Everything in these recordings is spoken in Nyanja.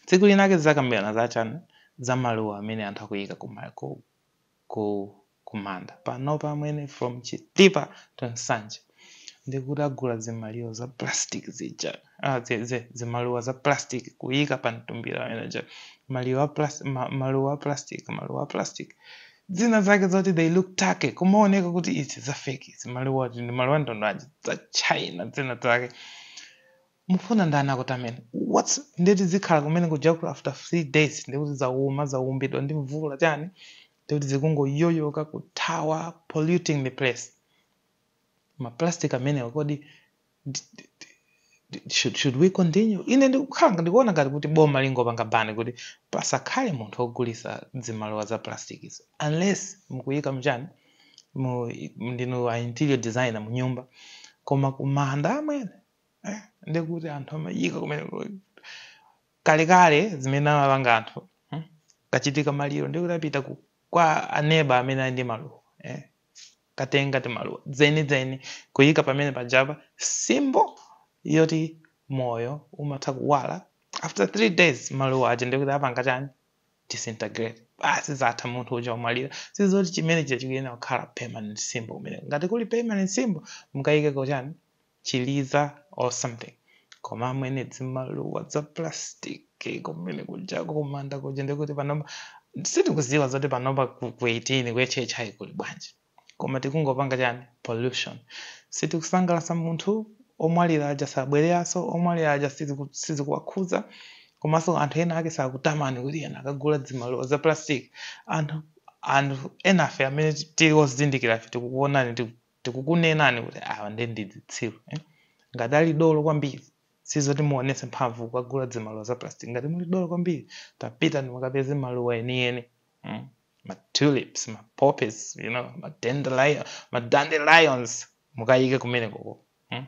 Tsiku linake tidzakambirana za chani? Za maluwa amene anthu akuyika ku ma ku ku kumanda. Panopa amwene from Chitipa to Nsanje ndikutagula zimaluwa za plastic zija ah zi zi zimaluwa za plastic kuyika pa mtumbira amene uja. Maluwa a plas ma maluwa a plastic maluwa a plastic dzina zake zoti they look tacky kumaoneka kuti izi za fake izi. Maluwa oti ndi maluwa a mtundu wanji? Za China dzina zake. mufuna ndani akutameni whats ndeti zikhala kumene kuja ku after three days ndekuti zauma zaumbidwa ndi mvula chani ndekuti zikungoyoyoka kuthawa polluting the place maplastic amenewa kodi d- d- d- d- should, should we continue ine ndikukhala ndikuona ngati kuti boma lingopanga bani kuti pasakhale munthu ogulisa zimaluwa za plastic izo unless mukuyika mchani mu ndinu a interior designer mu nyumba koma kumanda amwene Eh, ndi kuti anthu amayika kumene kalekale zimene amapanga anthu hmm? kachitika maliro ndi kuti apita ku- kwa aneba amene ali ndi maluwa eh? katenga timaluwa dzenidzeni kuyika pamene pajapa symbol yoti moyo umatha kuwala after three days maluwa aja ndikuti apanga chani disintegrate basi zatha munthu uja wamwalira sizoti chimene chija chikuyenera kukhala permanent symbol kumene ngati kuli permanent symbol mukayikeko chani chiliza or something koma amwene dzimaluwa dza plastic kumene kujako kumanda kuja ndikuti panopa sitikuziwa zoti panopa ku ku 18 ku HHI kuli bwanji koma tikungopanga chani pollution sitikusangalasa munthu omwalira aja sabwereranso omwalira aja siziku- sizikuwakhuza komanso anthu ena ake sakutamani kuti ena akugula dzimaluwa za plastic anthu anthu enafe amene tili ozindikirafe tikukuonani tiku- tikukunenani kuti awa nde ndi dzitsiru eh? ngati ali dolo kwambiri sizoti muonese mphamvu kukagula dzimaluwa za plastic ngati muli dolo kwambiri tapitani mukapeze maluwa enieni mm? ma tulips ma poppies you know ma dandelion ma dandelions mukayike kumenekoko mm?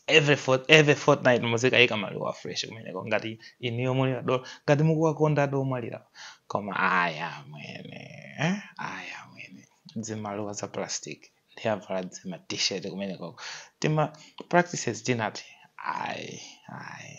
every fort, every fortnight muzikayika maluwa a fresh kumeneko ngati inuyo muli adolo ngati mukuwakonda adi omwalira koma ayi amwene eh? ayi amwene dzimaluwa za plastic ndi avala dzima t-shirt kumeneko tima practices tinatake ayi ayi